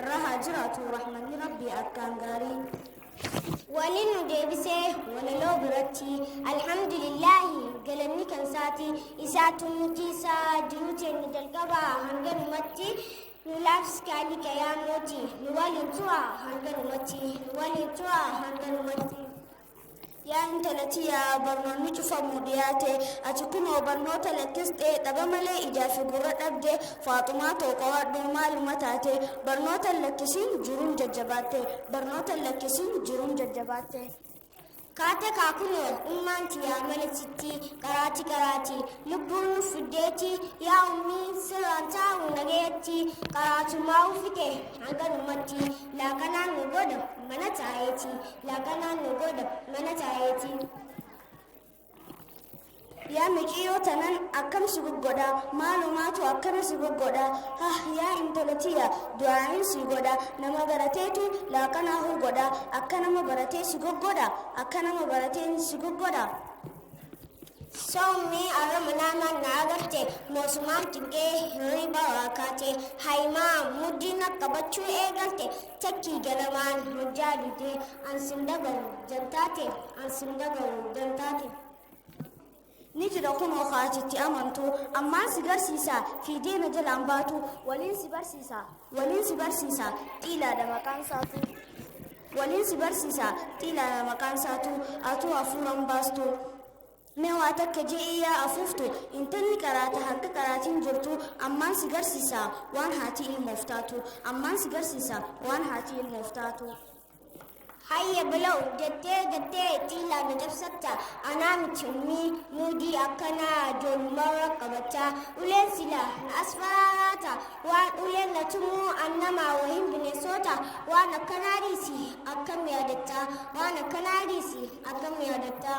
irra haa jiraatu rahmanni rabbii akkaan gaarii wani nu deebisee walaloo biratti alhamdulillaahi galanni kan isaati isaa tumutti isaa jiruu teenni jalqabaa hanganumatti nu laafskaali qayaamoti nu waliin tu'a hanganumatti nu waliin tu'a hanganumatti Yaa intala tiyaa barnoonni cufamu dhiyaate ati kunoo barnoota lakkistee dhaba malee ijaa fi gurra dhabde faaxumaa too qo'adhu maaluma taate barnoota lakkisiin jiruun jajjabaatte barnoota lakkisiin jiruun jajjabaatte. Kaate kaa kunoo ummaan tiyaa mana sitti qaraati qaraati lubbuun nu fiddeeti yaa ummii sirraan taa'u nageetti qaraatumaa uffite hanganumatti laakanaan nu godha mana taa'eeti Laga naannoo godha mana taayeetii. Yaa miciyoo tanan akkam si goggodha maalumaatu akkana si goggodha hah yaa intala tiya du'aayin si godha nama barateetu laaqanaa hoo godha akka nama baratee si goggodha akka nama baratee si goggodha. Soomni arama nama na agarte moosumaan cinqee hirriba waakaate haimaa muddiina qabachuu eegalte Chachii ganamaan hojjaa didee an sin dhagahu jantaa tee an sin dhagahu jantaa tee. ni jira kunoo kaati itti amantu ammaan si garsiisa fiidee na jalaan baatu waliin si barsiisa waliin si barsiisa xiilaadha maqaan isaatu waliin si barsiisa xiilaadha maqaan isaatu atuu hafuuran baastu Mee waa takka je'ii yaa afuuftu, intalli qaraata harka qaraatiin jirtu ammaan si garsiisaa waan haati ilmoof taatu, ammaan si garsiisa waan haati ilmoof taatu. Hayye bilaw jettee jettee ittiin laala cabsatta anaa miti ummii muudii akkanaa ijoollumarra qabatta uleen sila na as faraaraata waan uleen na tumuu an namaa wahiin bineensoota waan akkanaa dhiisi akkam yaadatta waan akkanaa dhiisi akkam yaadatta.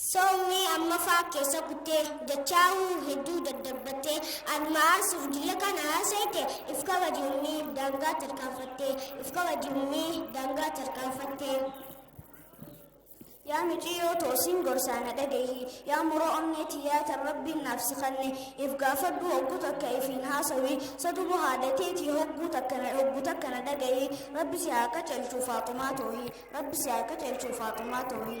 Soomni ammaffaa keessa kuttee dachaa'uu hedduu daddabbattee anuma aarsuuf jillee kana haasa'ite if kabaji ummii daangaa tarkaanfattee if kabaji ummii daangaa tarkaanfattee. Yaa miciyyoo toosiin gorsaa na dhagahi yaa muroo onnee tiyyaa tan rabbiin naaf si kanne if gaafadhu hogguu takka ifiin haasawi sadubu haadateetii hogguu takka na hogguu takka na dhagahi rabbi si haa qacelchuu faaxumaa toohi rabbi si haa qacelchuu faaxumaa toohi.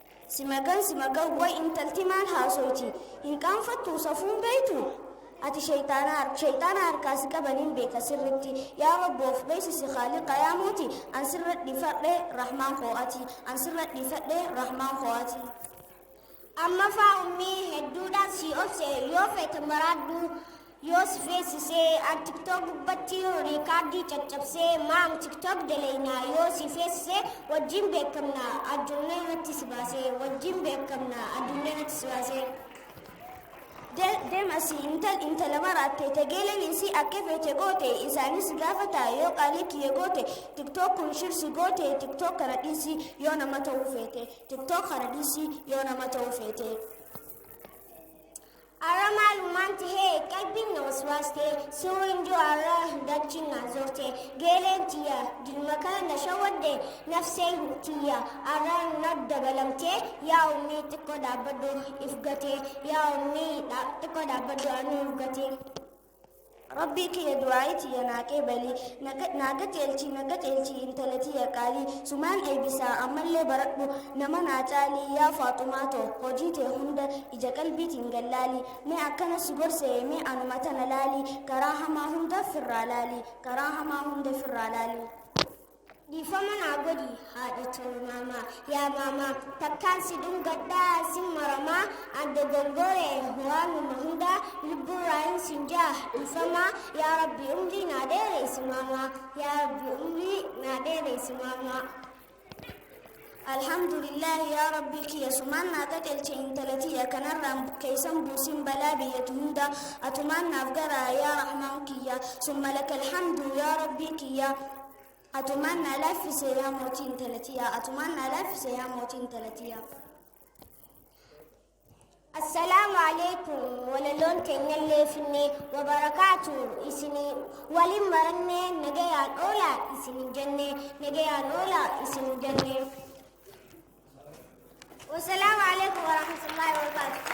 Si magan si magan way intalti maal haasoyti hin qaanfattuu safuun beeytu ati sheyxaana har- sheyxaana harkaa si qabaniin beeka sirritti yaa rabbi of beeksisi khaaliqa yaa mooti an sirra dhifadhe rahmaan koo ati an sirra dhifadhe rahmaan koo ati amma faa ummii hedduudhaan sii obse yoo feete maraadhu yoo si feesisee an tiktok gubbatti riikaardii caccabsee maam tiktok daleeyna yoo si feesise wajjin beekamna addunyaa irratti si baasee wajjin beekamna addunyaa irratti si baasee deemasi intal intala maraatte tegeeleen isii akka feete goote isaanis gaafata yoo qaalii kiyya goote tiktok kun shirsi goote tiktok kana dhiisi yoo nama ta'uu feete tiktok kana dhiisi yoo nama ta'uu feete. Arra maalummaan tahee qalbiin na waswaaste suu hin jiru arra dachiin na zorte geeleen tiyya dilma kana na shawwadde nafsee tiyya arra na dabalamte yaa ummii xiqqoo dhaabbadhu if gate yaa ummii xiqqoo dhaabbadhu anuu if gate. Rabbii kiyya du'aa'ii tiyya naa qeebali na qa- naa qajeelchi na qajeelchi intala tiyya qaalii sumaan eebisaa ammallee baradhu nama naa caalii yaa faaxumaa too hojii tee hunda ija qalbiitiin gallaalii mee akkana si gorsee mee anuma tana laalii karaa hamaa hunda firraa laalii karaa hamaa hunda firraa laalii. Dhiifama naa godhi haadha too maamaa yaa maamaa takkaan si dhungadhaa sin maramaa an dogongore waanuma hundaa lubbuurraa hin sin jaa dhiifamaa yaa rabbi umrii naa dheereysi maamaa yaa rabbi umrii naa dheereysi maamaa. Alhamdulillah yaa rabbii kiyya sumaan naa qacelche intala tiyya kanarraan bukkeeysan buusin balaa biyyatu hunda atumaan naaf garaa yaa rahmaan kiyya summa lakal hamdu yaa rabbii kiyya atumaan naa laaffise yaa mootii intala tiyya atumaan naa laaffise yaa mootii intala tiyya. Assalaamu Aleykum walaloon teenyallee finnee wabarakaatu isinii waliin marannee nagayaan oolaa isinin jennee nagayaan oolaa isinin jennee. Wassalaamu Aleykum warahmatullaahi wabarakaatu.